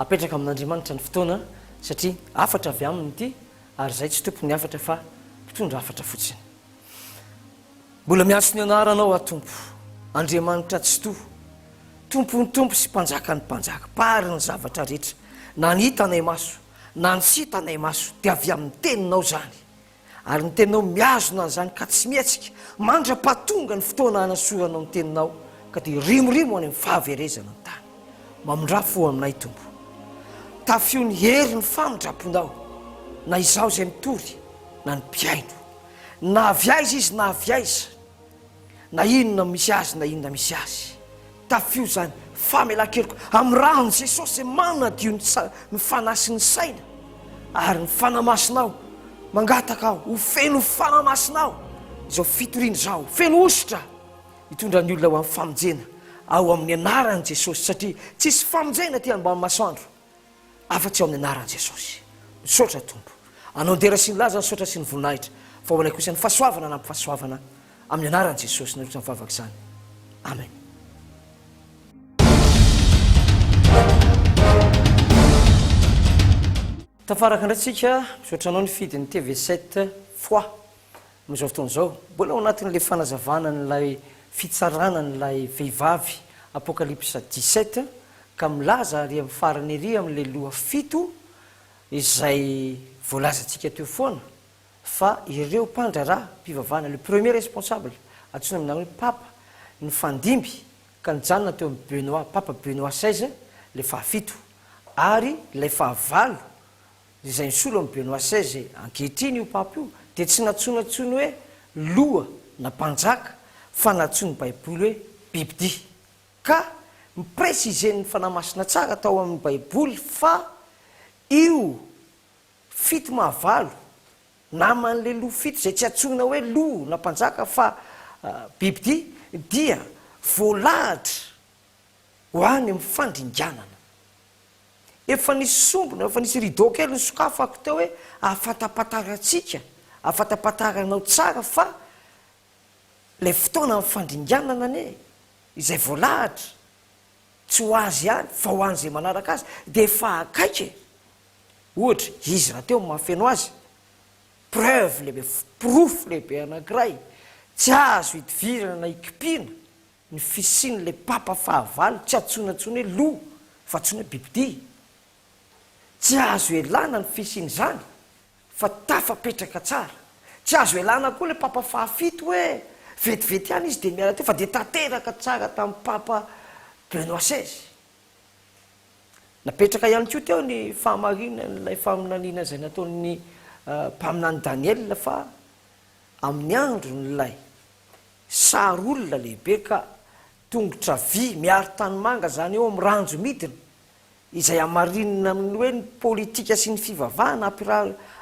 Apetraka amin'Andriamanitra ny fotoana satria hafatra avy aminy ity ary izay tsy tompon'ny hafatra fa mpitondra hafatra fotsiny. Mbola miantso ny anaranao aho Tompo, Andriamanitra Tsitoha, Tompon'ny tompo sy Mpanjakan'ny mpanjaka, Mpahary ny zavatra rehetra, na ny hitanay maso na ny tsy hitanay maso dia avy amin'ny teninao izany, ary ny teninao mihazona an'izany ka tsy mihetsika mandra-pahatonga ny fotoana hanasoranao ny teninao ka dia hirimorimo any amin'ny fahaverezana ny tany. Mamindrà fo aminay Tompo. Tafio ny herin'ny famindram-ponao na izaho izay mitory na ny mpihaino. na avy aiza izy na avy aiza, na inona misy azy na inona misy azy, tafio izany famelan-keloka amin'ny ran'i Jesosy izay manadio ny sa- ny fanahy sy ny saina ary ny fanahy masina aho, mangataka aho ho feno fanahy masina aho izao fitoriana izao, feno hosotra hitondra ny olona ho amin'ny famonjena ao amin'ny anaran'i Jesosy satria tsisy famonjena aty ambany masoandro. afa-tsy ao amin'ny anaran'i Jesosy. Misaotra Tompo. Anao dera sy ny laza ny saotra sy ny voninahitra, fa ho anay kosa ny fahasoavana anampy fahasoavana amin'ny anaran'i Jesosy nandritra ny vavaka izany. Amen. Tafaraka indray tsika, misaotra anao nifidy ny TV7 fois. Amin'izao fotoana izao, mbola ao anatin'ilay fanazavana an'ilay fitsarana an'ilay vehivavy Apokalypsa dix-sept ka milaza ary amin'ny farany ery amin'ilay loha fito izay voalazantsika teo foana fa ireo mpandraharaha mpivavahana, le premier responsable, antsoina amin'izany hoe Papa, nifandimby ka nijanona teo amin'i Benoît, Papa Benoît seize, ilay fahafito, ary ilay fahavalo, Izay nisolo an'i Benoît xvi ankehitriny io Papa io dia tsy nantsoina intsony hoe loha na mpanjaka fa nantsoin'ny Baiboly hoe bibidia. Ka mi-presizen'ny Fanahy Masina tsara tao amin'ny Baiboly fa io fito maha valo naman'ilay loha fito izay tsy antsoina hoe loha na mpanjaka fa bibidia dia voalahatra ho any amin'ny fandringanana. Efa nisy sombina, efa nisy rideau kely nosokafako teo hoe ahafantampatarantsika, ahafantampataranao tsara fa ilay fotoana amin'ny fandringanana anie, izay voalahatra, tsy ho azy ihany fa ho an'izay manaraka azy dia efa akaiky e! Ohatra, izy rahateo no mahafeno azy, preuve lehibe, porofo lehibe anankiray tsy azo hidivirana na hikipiana Ny fisian'ilay papa fahavalo tsy antsoina intsony hoe loha fa antsoina hoe bibidia. Tsy azo ialana ny fisian'izany fa tafapetraka tsara. Tsy azo ialana koa ilay papa fahafito hoe vetivety ihany izy dia miala teo fa dia tanteraka tsara tamin'ny papa Benoît seize. Napetraka ihany koa teo ny fahamarinan'ilay faminaniana izay nataon'ny mpaminany Daniela fa amin'ny andron'ilay. Sary olona lehibe ka! Tongotra vy miaro tanimanga zany eo amin'ny ranjo midina, izay hamarinina amin'ny hoe ny politika sy ny fivavahana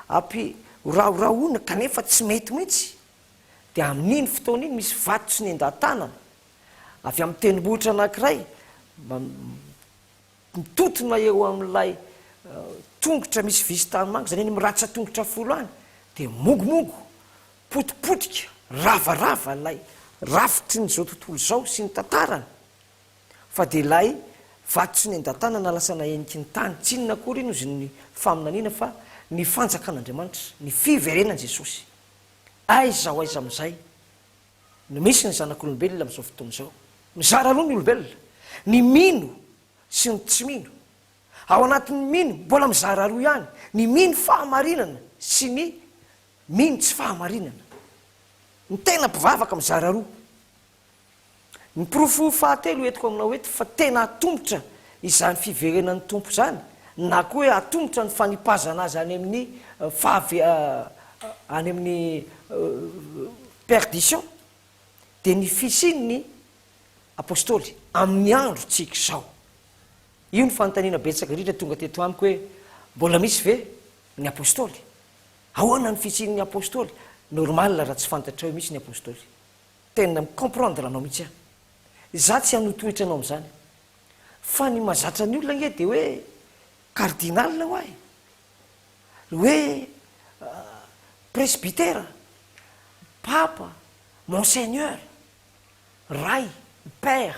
ampirahorahorahoina kanefa tsy mety mihitsy. Dia amin'iny fotoana iny misy vato tsy nendan-tanana avy amin'ny tendrombohitra anankiray mba Mitontona eo amin'ilay tongotra misy visy tanimanga, izany eny amin'ny ratsan-tongotra folo any, dia mongomongo, potipotika, ravarava ilay rafitry ny izao tontolo izao sy ny tantarany, fa dia ilay vato tsy nendan-tàna na lasa naheniky ny tany, tsy inona akory iny ozin'ny faminaniana fa ny fanjakan'Andriamanitra, ny fiverenan'i Jesosy. Aiza ho aiza amin'izay? no misy ny zanak'olombelona amin'izao fotoana izao. Mizara roa ny olombelona, ny mino sy ny tsy mino. Ao anatin'ny mino, mbola mizara roa ihany, ny mino fahamarinana sy ny mino tsy fahamarinana. Ny tena mpivavaka mizara roa. Ny porofo fahatelo entiko aminao eto fa tena hatomotra izany fiverenan'ny Tompo izany na koa hoe hatomotra ny fanipazana Azy any amin'ny fahavean, any amin'ny Perdition dia ny fisian'ny Apostoly amin'ny androntsika izao. Io ny fanontaniana betsaka indrindra tonga teto amiko hoe mbola misy ve ny Apostoly? Ahoana ny fisian'ny Apostoly? Normal raha tsy fantatrao mihitsy ny Apostoly. Tena mi-comprendre anao mihitsy aho. Izaho tsy hanotohitra anao amin'izany. Fa ny mahazatra ny olona ange dia hoe cardinal ho'a e! Ny hoe presbytera, papa, monseigneur, ray, père,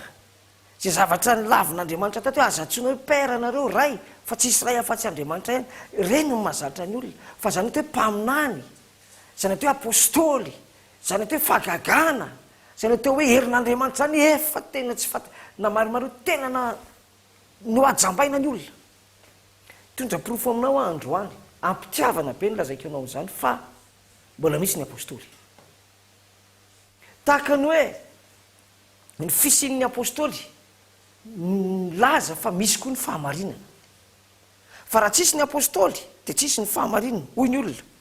izay zavatra nilavin'Andriamanitra taty hoe aza antsoina hoe père nareo, ray, fa tsy hisy ray afa-tsy Andriamanitra ihany, ireny no mahazatra ny olona, fa izany atao hoe mpaminany, izany atao hoe apostoly, izany atao hoe fagagana, izany atao hoe herin'Andriamanitra izany efa tena tsy fanta, na marimareo tena na nohajambaina ny olona, Hitondra porofo aminao aho androany, am-pitiavana be no lazaiko anao izany, fa mbola misy ny Apôstôly. Tahaka ny hoe ny fisian'ny Apôstôly milaza fa misy koa ny fahamarinana. Fa raha tsisy ny Apôstôly, dia tsisy ny fahamarinana, hoy ny olona.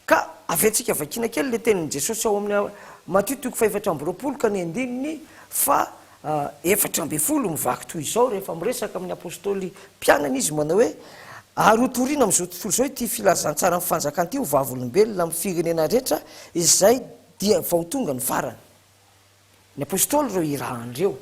Ka aviantsika vakiana kely ilay tenin'i Jesosy ao amin'ny Matio toko fahefatra amby roapolo ka ny andininy fahaefatra ambin'ny folo mivaky toy izao rehefa miresaka amin'ny apostoly mpianany izy manao hoe, Ary hotorina amin'izao tontolo izao ity filazantsaran'ny fanjakana ity ho vavolombelona amin'ny firenena rehetra izay dia vao tonga ny farany. Ny Apôstôly ireo irahany ireo.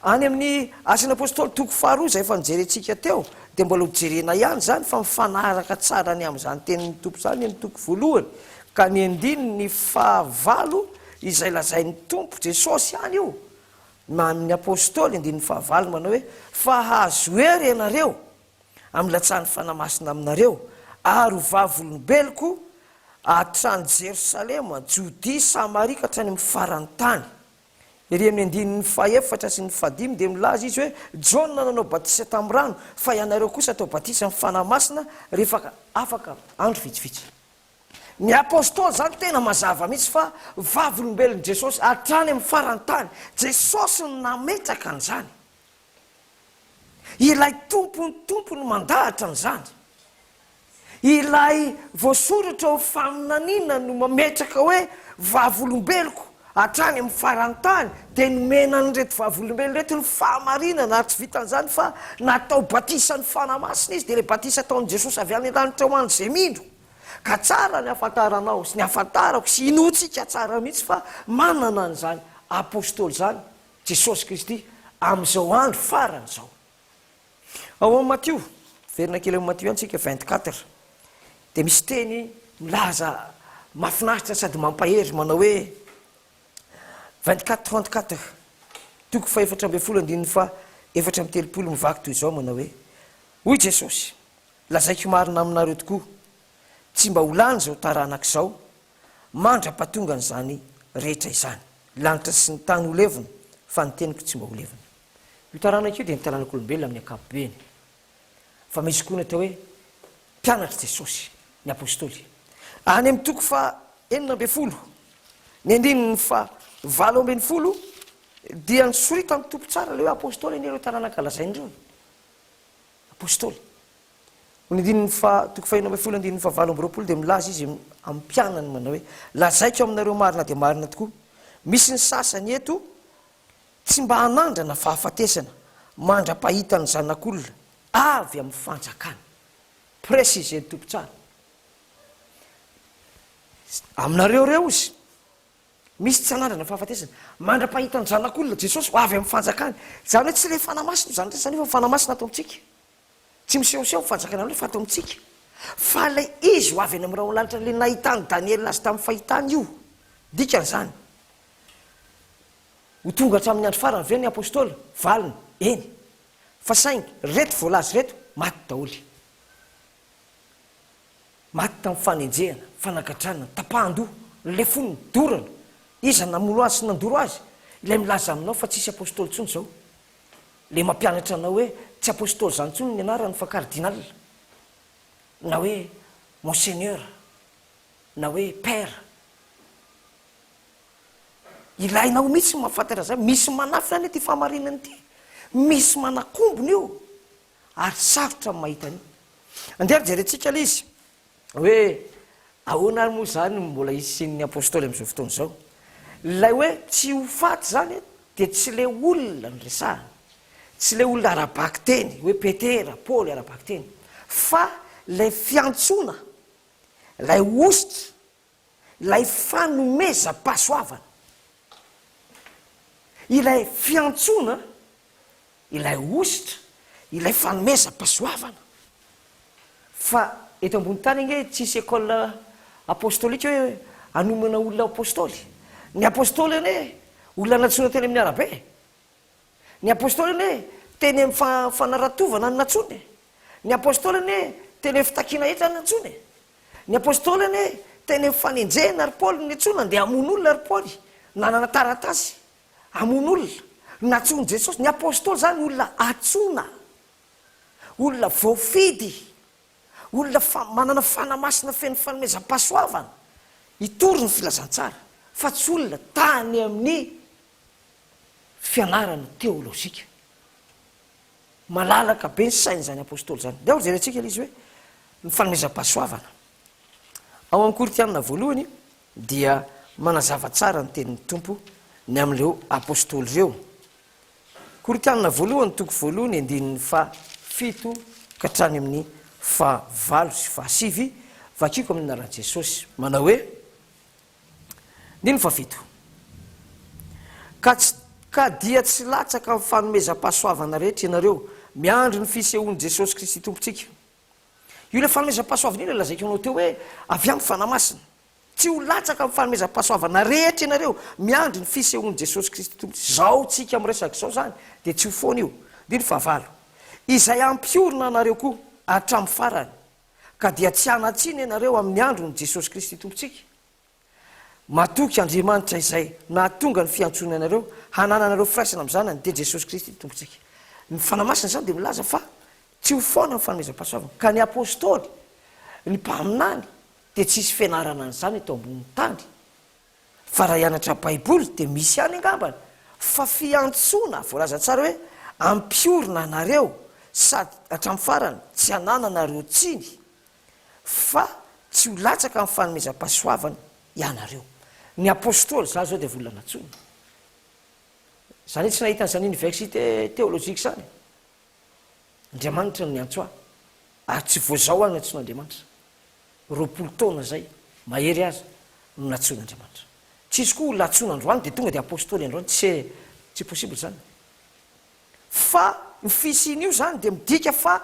Any amin'ny Asan'ny Apôstôly toko faharoa izay efa nojerentsika teo dia mbola ho jerena ihany izany fa mifanaraka tsara ny amin'izany tenin'ny Tompo izany ny toko voalohany ka ny andininy fahavalo izay lazain'ny Tompo Jesosy ihany io na amin'ny Apôstôly andininy fahavalo manao hoe fa hahazo hery ianareo amin'ny latsahan'ny Fanahy Masina aminareo, ary ho vavolombeloko hatrany Jerosalema, Jodia, Samaria ka hatrany amin'ny faran'ny tany. Ery amin'ny andininy fahefatra sy ny fahadimy dia milaza izy hoe, Jaona nanao batisa tamin'ny rano, fa ianareo kosa atao batisa amin'ny Fanahy Masina rehefa afaka andro vitsivitsy. Ny Apostoly izany tena mazava mihitsy fa vavolombelon'i Jesosy hatrany amin'ny faran'ny tany. Jesosy no nametraka an'izany. Ilay Tompon'ny Tompo no mandahatra an'izany. Ilay voasoratra ao amin'ny faminaniana no mametraka hoe vavolombeloko hatrany amin'ny faran'ny tany, dia nomena an'ireto vavolombelona ireto ny fahamarinana, ary tsy vitan'izany fa natao batisan'ny Fanahy Masina izy, dia ilay batisa ataon'i Jesosy avy any an-danitra ho an'izay mino. Ka tsara ny hahafantaranao sy ny hahafantarako sy hinoantsika tsara mihitsy fa manana an'izany Apostoly izany Jesosy Kristy amin'izao andro farany izao. Ao amin'ny Matio, miverina kely amin'ny Matio ihany isika vingt quatre, dia misy teny milaza mahafinaritra sady mampahery manao hoe, vingt quatre trente quatre, toko fahefatra ambin'ny folo andininy fahaefatra amby telopolo mivaky toy izao manao hoe, Hoy Jesosy, Lazaiko marina aminareo tokoa, tsy mba ho lany izao taranaka izao mandra-pahatongan'izany rehetra izany. Lanitra sy ny tany ho levona, fa ny teniko tsy mba ho levona. Io taranaka io dia ny taranak'olombelona amin'ny ankapobeny. Fa misy koa ny atao hoe mpianatr'i Jesosy, ny apostoly. Any amin'ny toko faha enina ambin'ny folo, ny andininy faha valo ambin'ny folo, dia nisoritan'ny Tompo tsara ilay hoe apostoly anie ireo taranaka lazainy ireo. Apostoly. Ho ny andininy faha toko fahenina ambin'ny folo andininy faha valo amby roapolo dia milaza izy amin'ny mpianany manao hoe, Lazaiko aminareo marina dia marina tokoa, misy ny sasany eto tsy mba hanandrana fahafatesana mandra-pahita ny Zanak'olona avy amin'ny fanjakany. Préciser ny Tompo tsara. Aminareo ireo Izy, misy tsy hanandrana fahafatesana mandra-pahita ny Zanak'olona, Jesosy, avy amin'ny fanjakany. Izany hoe tsy ilay Fanahy Masina izany rehetra izany fa ny Fanahy Masina ato amintsika. Tsy misehoseho ny Fanjakan'Andriamanitra fa ato amintsika. Fa ilay Izy ho avy any amin'ny rahon'lanitra ilay nahitan'i Daniela azy tamin'ny fahitany io. Dikan'izany, ho tonga hatramin'ny andro farany ve ny Apostoly? Valiny, Eny. Fa saingy, ireto voalaza ireto, maty daholo. Maty tamin'ny fanenjehana, fanagagdranana, tapahan-doha, lefona, dorana. Iza namono Azy sy nandoro Azy? Ilay milaza aminao fa tsisy Apostoly intsony izao. le mampianatra anao hoe tsy apostoly zany tsony ny anarany fa cardinal na hoe monseigneur na hoe père ilainao mitsy ny mahafantatra zany misy manafina anie ty fahamarinana ty misy manakombona io ary sarotra ny mahita an'io andeha ary jerentsika le izy Hoe ahoana ary moa izany no mbola hisian'ny Apôstôly amin'izao fotoana izao? Ilay hoe tsy ho faty izany dia tsy ilay olona no resahina, tsy ilay olona ara-bakiteny hoe Petera, Paoly ara-bakiteny, fa ilay fiantsoana, ilay hosotra. ilay fanomezam-pahasoavana, ilay fiantsoana, ilay hositra, ilay fanomezam-pahasoavana. Fa eto ambony tany ange tsisy école apostolique hoe hanomana olona ho apostoly. Ny apostoly anie olona nantsoina teny amin'ny arabe. Ny Apôstôly anie teny amin'ny fa fanaratovana no nantsoiny e! Ny Apôstôly anie teny amin'ny fitakiana hetra no nantsoiny e! Ny Apôstôly anie teny amin'ny fanenjehana ry Paoly no niantsoana ndeha hamono olona ry Paoly nanana taratasy hamono olona nantsoin'i Jesosy ny Apôstôly izany olona antsoina olona voafidy olona fa manana fanahy masina feno fanomezam-pahasoavana hitory ny filazantsara fa tsy olona tany amin'ny fianarana teolojika. Malalaka be ny sain'izany apostoly izany. Ndeha hojerentsika ilay izy hoe ny fanomezam-pahasoavana. Ao amin'ny Korintianina voalohany dia manazava tsara ny tenin'ny Tompo ny amin'ireo apostoly ireo. Korintianina voalohany toko voalohany andininy fa fito ka hatrany amin'ny fa valo sy fa sivy, vakiko amin'ny naran'i Jesosy. Manao hoe, Andininy fahafito. Ka tsy ka dia tsy latsaka amin'ny fanomezam-pahasoavana rehetra ianareo, miandry ny fisehoan'i Jesosy Kristy Tompontsika. Io ilay fanomezam-pahasoavana io ilay lazaiko anao teo hoe avy amin'ny Fanahy Masina. Tsy ho latsaka amin'ny fanomezam-pahasoavana rehetra ianareo, miandry ny fisehoan'i Jesosy Kristy Tompontsika. Izao tsika miresaka izao izany dia tsy ho foana io. Andininy fahavalo. Izay hampiorina anareo koa hatramin'ny farany. ka dia tsy hanan-tsiny ianareo amin'ny andron'i Jesosy Kristy Tompontsika. Matoky Andriamanitra izay nahatonga ny fiantsoany anareo hanananareo firaisana amin'ny Zanany, dia Jesosy Kristy Tompontsika. Ny Fanahy Masina izany dia milaza fa tsy ho foana ny fanomezam-pahasoavana, ka ny Apostoly, ny Mpaminany, dia tsy hisy fianarana an'izany eto ambonin'ny tany. Fa raha hianatra baiboly dia misy ihany angamba fa fiantsoana voalaza tsara hoe ampiorina anareo sady hatramin'ny farany tsy hanananareo tsiny fa tsy ho latsaka amin'ny fanomezam-pahasoavana ianareo. Ny apostoly za zao dia vola natsoina. Za anie tsy nahita an'izany université théologique zany. Andriamanitra no niantso ahy ary tsy voazao aho nantsoin'Andriamanitra. Roapolo taona izay mahery aza no nantsoin'Andriamanitra. Tsy izy koa olona antsoina androany dia tonga dia apostoly androany, tse, tsy possible izany. Fa ny fisian'io izany dia midika fa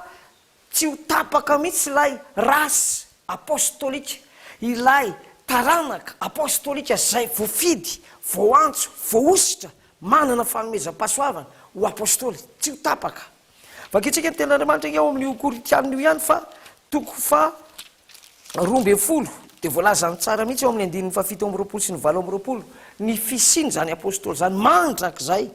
tsy ho tapaka mihitsy ilay race apostolique, ilay taranaka apostolika izay voafidy, voaantso, voahosotra, Manana fanomezam-pahasoavana ho apostoly tsy ho tapaka. Vakintsika ny Tenin'Andriamanitra anie ao amin'io Korintianina io ihany fa toko faha roa ambin'ny folo dia voalazany tsara mihitsy ao amin'ny andininy faha fito amby roapolo sy ny valo amby roapolo ny fisian'izany apostoly izany mandrakizay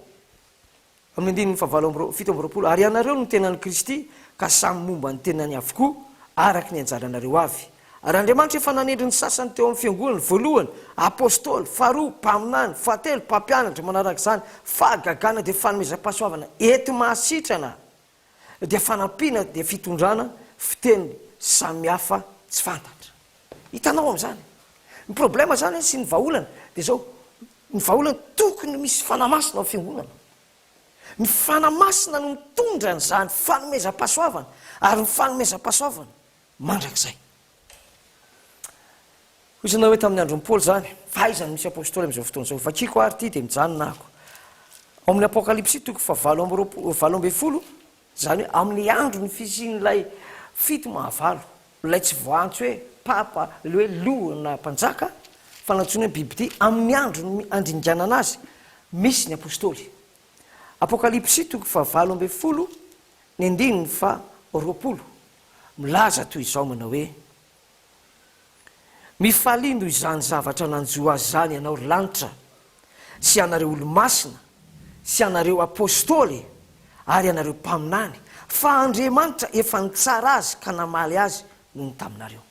amin'ny andininy faha valo amby fito amby roapolo Ary ianareo no tenan'i Kristy ka samy momba ny tenany avokoa araka ny anjaranareo avy. Ary Andriamanitra efa nanendry ny sasany teo amin'ny fiangonany, voalohany, apostoly, faharoa, mpaminany, fahatelo, mpampianatra, manaraka izany, fahagagana dia fanomezam-pahasoavana enti-mahasitrana, dia fanampiana dia fitondrana, fiteny samihafa tsy fantatra. Hitanao amin'izany? Ny problème izany sy ny vahaolana dia izao, ny vahaolana tokony misy fanahy masina ao amin'ny fiangonana. Ny fanahy masina no mitondra an'izany fanomezam-pahasoavana, ary ny fanomezam-pahasoavana mandrakizay. Hoy izy na hoe tamin'ny andron'i Paoly izany, fa aiza no misy apostoly amin'izao fotoana izao? Vakiko ary ity dia mijanona ako. Ao amin'ny Apokalypsy toko fa valo amby roapolo, valo ambin'ny folo, izany hoe amin'ny andron'ny fisian'ilay fito mahavalo, ilay tsy voaantso hoe papa, ilay hoe loha na mpanjaka, fa nantsoina hoe bibidia, amin'ny andron'ny handringanana azy, misy ny apostoly. Apokalypsy toko fa valo ambin'ny folo, ny andininy fa roapolo. milaza toy izao manao hoe, Mifalia noho izany zavatra nanjo azy izany ianao, ry lanitra, sy ianareo olo-masina, sy ianareo apostoly, ary ianareo mpaminany, fa Andriamanitra efa nitsara azy ka namaly azy noho ny taminareo.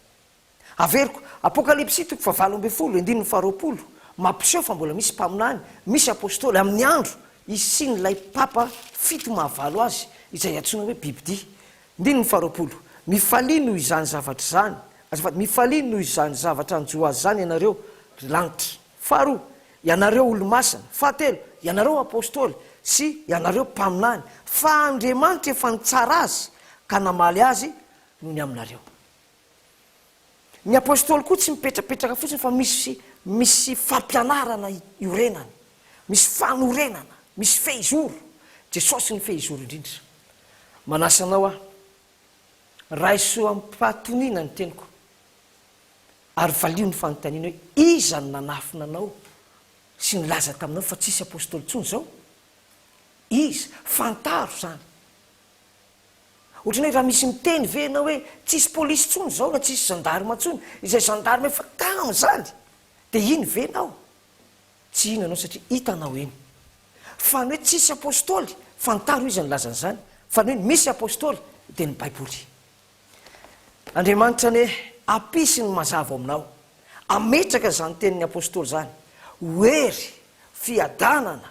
Averiko, Apokalypsy toko fahavalo ambin'ny folo, andininy faharoapolo, mampiseho fa mbola misy mpaminany, misy apostoly amin'ny andro hisian'ilay Papa fito mahavalo azy, izay antsoina hoe bibidia. Andininy faharoapolo, Mifalia noho izany zavatra izany, azafady, mifalia noho izany zavatra hanjo azy izany ianareo, ry lanitra. Faharoa, Ianareo olo-masina. Fahatelo, Ianareo apostoly sy ianareo mpaminany, fa Andriamanitra efa nitsara azy ka namaly azy noho ny aminareo. Ny Apôstôly koa tsy mipetrapetraka fotsiny fa misy misy fampianarana iorenany, misy fanorenana, misy fehizoro. Jesôsy no fehizoro indrindra. Manasa anao aho, raiso amim-pahatoniana ny teniko ary valio ny fanontaniana hoe, iza no nanafina anao sy nilaza taminao fa tsisy Apôstôly intsony izao? Iza? Fantaro izany. Ohatran'ny hoe raha misy miteny ve ianao hoe tsisy polisy intsony izao na tsisy gendarme intsony, izay gendarme efa tany izany dia iny ve ianao? Tsy iny ianao satria hitanao eny. Fa ny hoe tsisy apostoly, fantaro iza nilaza an'izany, fa ny hoe misy apostoly dia ny baiboly. Andriamanitra anie hampisy ny mazava ao aminao, hametraka izany tenin'ny apostoly izany ho hery, fiadanana,